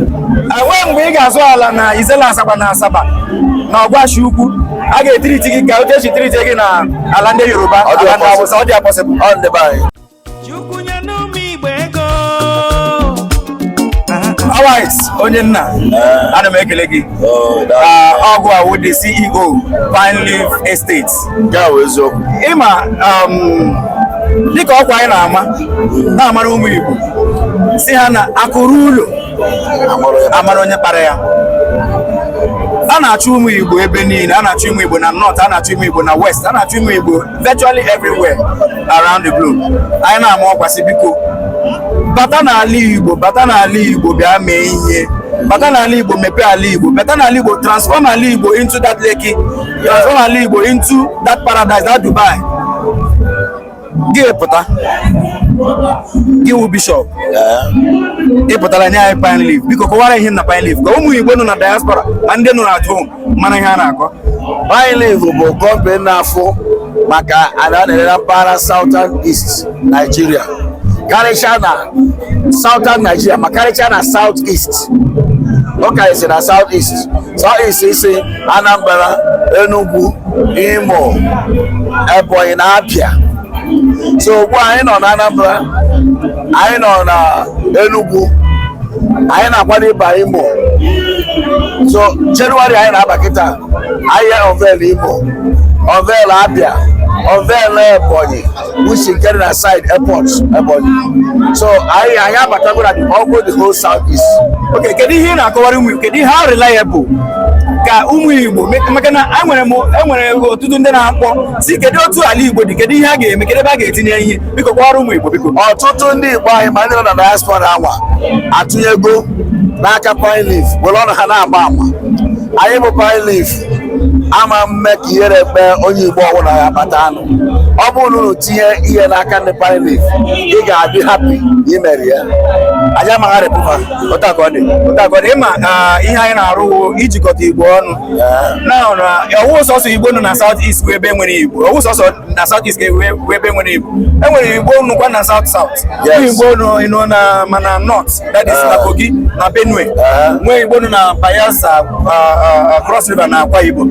enweghị mgbe ị ga-azụ ala na Issele Azagba na asaba na ọgwashi ukwu a ga-etreat gị ka otu e si treat gị na ala ndị yoruba Ọ dị ala ndị awụsa ọ dịrọ possible ọ ndị be anyị Chukwu nyenụ ụmụ Igbo ego. Alright, onye nna ana m ekele gị Oh, that- Ah, ọ gị wụ the ceo Pine Leaf Estates nke a bụ eziokwu ịma um, dịka ọkwa anyị na-ama na-amara ụmụ Igbo sị ha na akụ ruo ụlọ a mara onye kpara ya a na-achụ ụmụ Igbo ebe niile a na-achụ ụmụ Igbo na north a na-achụ ụmụ Igbo na west a na-achụ ụmụ Igbo virtually everywhere around the globe anyị na-ama ọkwa sị biko bata n'ala Igbo bata n'ala Igbo bịa mee ihe bata n'ala Igbo mepee ala Igbo bata n'ala Igbo transform ala Igbo into that Lekki transform ala Igbo into that paradise that Dubai gị pụta gị wụ bishọp ị pụtara nye anyị pine leaf biko kọwara ihe na pine leaf ka ụmụ Igbo nọ na diaspora ma ndị nọ at home mara ihe a na-akọ pine leaf bụ company na-afụ maka ala a na-ere na mpaghara southern east Nigeria karịchaa na southern Nigeria ma karịchaa na south east ọ karịsị na south east south east is Anambra Enugu Imo Ebonyi na Abia so ugbu a anyị nọ na Anambra anyị nọ na Enugu anyị na-akwado ịba Imo so January anyị na-aba kịta anyị unveil Imo unveil Abia unveil Ebonyi which is getting aside airport Ebonyi. So anyị anyị abatago na the ọgwụ the whole south east. Okay, kedu ihe ị na-akọwara ụmụ Igbo? Kedu how reliable ka ụmụ Igbo me- maka na enwere m enwere ọtụtụ ndị na-akpọ sị kedu otu ala Igbo dị kedu ihe a ga-eme kedu ebe a ga-etinye ihe biko kọwara ụmụ Igbo biko. Ọtụtụ ndị Igbo anyị ma ndị nọ na diaspora anwa atụnyego n'aka pine leaf were ọnụ ha na-agba ama. Anyị bụ pine leaf ama mme ka ihere kpee onye Igbo ọbụla ya batanụ. ọ bụrụ na unu tinye ihe n'aka ndị pine leaf ị ga-adị happy na i mere ya anyị amaghị arịpụta otu a ka ọ dị otu a ka ọ dị ịma ah, ihe anyị na-arụ wụ ijikọta igbo ọnụ na na ọwụ sọsọ igbo nọ na south east bụ ebe nwere igbo ọwụ sọsọ na south east ga-ewe bụ ebe nwere igbo e nwere igbo nọkwa na south south Yes. nwee igbo nọ na ma na north that is na kogi na benue nwee igbo nọ na bayelsa ah, ah, ah, cross river na akwa ibom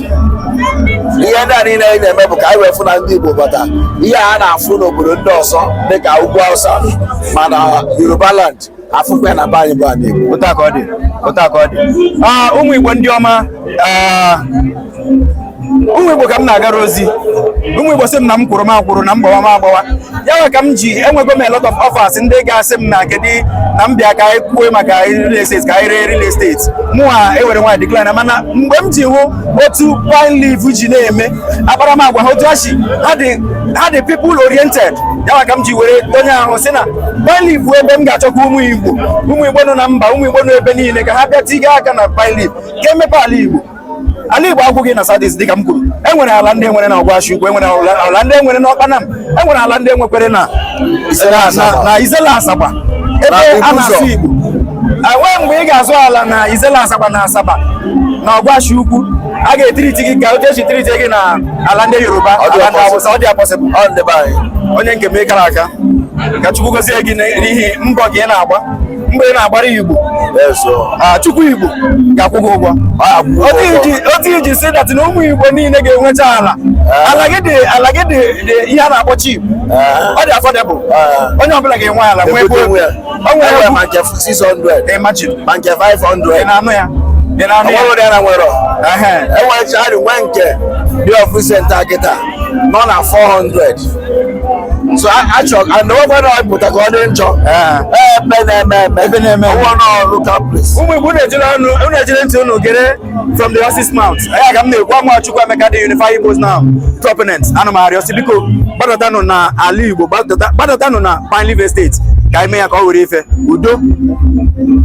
ihe ndị a niile anyị na-eme bụ ka anyị wee fụ na ndị Igbo bata ihe a na-afụ n'obodo ndị ọzọ dịka ugwu Hausa ma na Yoruba land a fụkwa ya na be anyị bụ ana Igbo otu a ka ọ dị otu a ka ọ dị Ah, ụmụ Igbo ndị ọma ah, ụmụ Igbo ka m na-agara ozi ụmụ Igbo sị m na m kwụrụ m akwụrụ na m gbawa m agbawa ya nwa ka m ji enwego m a lot of offers ndị ga-asị m na kedu na m bịa ka anyị kwue maka real estate ka anyị ree real estate mụwa ewere nwayọ decline mana mgbe m ji hụ otu pine leaf ji na-eme akparamagwa ha otu ha si ha dị ha dị people oriented ya ka m ji were donye ahụ sị na pine leaf bụ ebe m ga-achọkwa ụmụ igbo ụmụ igbo nọ na mba ụmụ igbo nọ ebe niile ka ha bịa tiga aka na pine leaf ka emepe ala igbo ala igbo agwụghị na south east dịka m kwuru enwere ala ndị enwere na ọgwashi ukwu enwere ala ndị enwere na ọkpanam enwere ala ndị enwekwere na issele azagba ebe a na-asụ igbo enwee mgbe ị ga-azụ ala na issele azagba na asaba na ọgwashi ukwu a ga-etreat gị ka otu esi treat gị na ala ndị yoruba ala ndị awụsa ọ dị impossible onye nke m ị kara aka ka chukwu gozie gị n'ihi mbọ gị ị na-agba mbọ ị na-agbara igbo ah, chukwu igbo ga-akwụ gị ụgwọ otu i ji see that na ụmụ igbo niile ga-enwecha ala eh. ala gị dị ala gị dị ihe a na-akpọ cheap eh. ọ dị affordable eh. onye ọbụla ga-enwe ala nwee ebe o nwere ma nke 600 imagine ma nke 500 ị na-anụ ya ị na-anụ ya enwerecha nwee nke dị ọfụ senta kịta nọ na 400 so achọ anọgwara pụta ka ọ dị njọ ebe na-eme eme ebe na-eme ụwa n'ọrụ kapris ụmụ igbo na-ejere ọnụ unu ejiri ntị unu gere from the horse's mouth ya ka m na-ekwu ama chukwuemeka the unify igbos now proponent ana m arịọ sị biko gbadatanụ na ala igbo gbadatanụ na pine leaf estate ka anyị mee ya ka ọ were ife udo